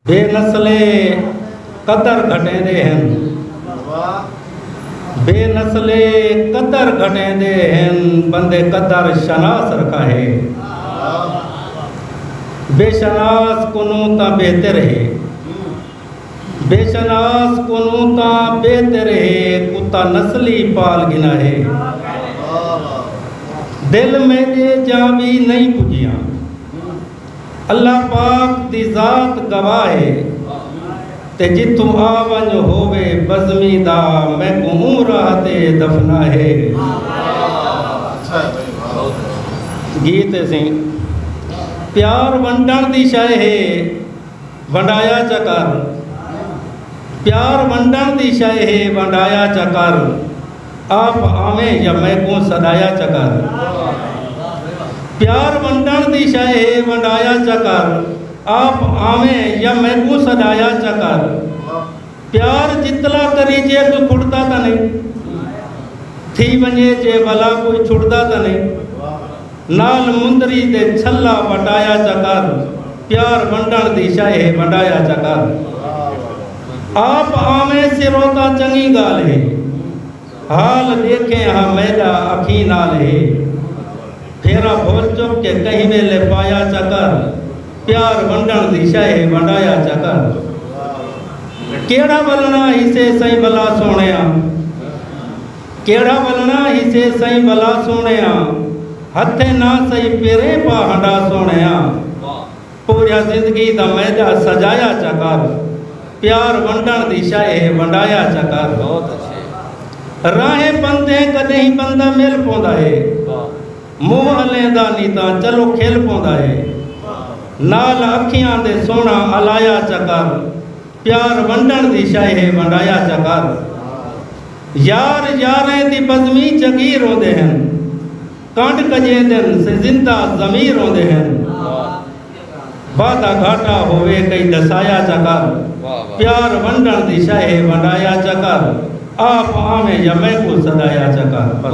بے نسلے قدر گھٹیندے ہن۔ بے نسلے قدر گھٹیندے ہن بندے قدر شناس رکھا ہے۔ بے شناس کنوں تاں بہتر ہے۔ بے شناس کنوں تاں بہتر ہے کتا نسلی پال گھنا ہے۔ دل میڈے جاں وی نئیں پجیاں۔ اللہ پاک دی ذات گواہ ہے تے جتھوں آ ونج ہووے بزمی دا میکوں اوں راہ تے دفنا ہے گیت سی پیار ونڈن دی شے ہے ونڈایا چکر پیار ونڈن دی شے ہے ونڈایا چکر آپ آویں یا میکوں سݙایا چا کر پیار ونڈݨ دی شئے ہے ونڈایا چا کر آپ آویں یا میکوں سݙایا چا کر پیار جتلا کری جے کوئی کھڑدا تاں نئیں تھی ونڄے جے ولا کوئی چھڑدا تاں نئیں نال مندری دے چھلا وٹایا چا کر پیار ونڈن دی شئے ہے ونڈایا چا کر آپ آویں سرو تاں چنگی گال ہے حال ڈیکھیں ہا میڈا اکھیں نال ہے پھیرا بھول چک کے کہیں ویلے پایا چا کر پیار ونڈن دی شئے ہے ونڈایا چا کر کیڑا ولنا ہی سے سائیں بھلا سونیا۔ کیڑھا ولنا ہیسے سئیں ولا سوہݨیا ہتھیں نہ سئیں پیریں پا ہنڈا سوہݨیا پوریا زندگی دا میجا سجایا چا کر پیار ونڈݨ دی شئے ہے ونڈایا چا کر راہیں پندھیں کݙہیں بندہ مل پوندا ہے منہ الیں دا نی تاں چلو کھل پوندا ہے نال اکھیاں دے سوہݨا الایا چا کر۔ پیار ونڈن دی شئے ہے ونڈایا چا کر یار یاریں دی بزمی جگیر ہوندے ہن کنڈ کجیندن سے زندہ ضمیر ہوندے ہن وعدہ گھاٹا ہووے کئی دسایا چا کر پیار ونڈن دی شئے ہے ونڈایا چا کر آپ آویں یا میں کو سدایا چا کر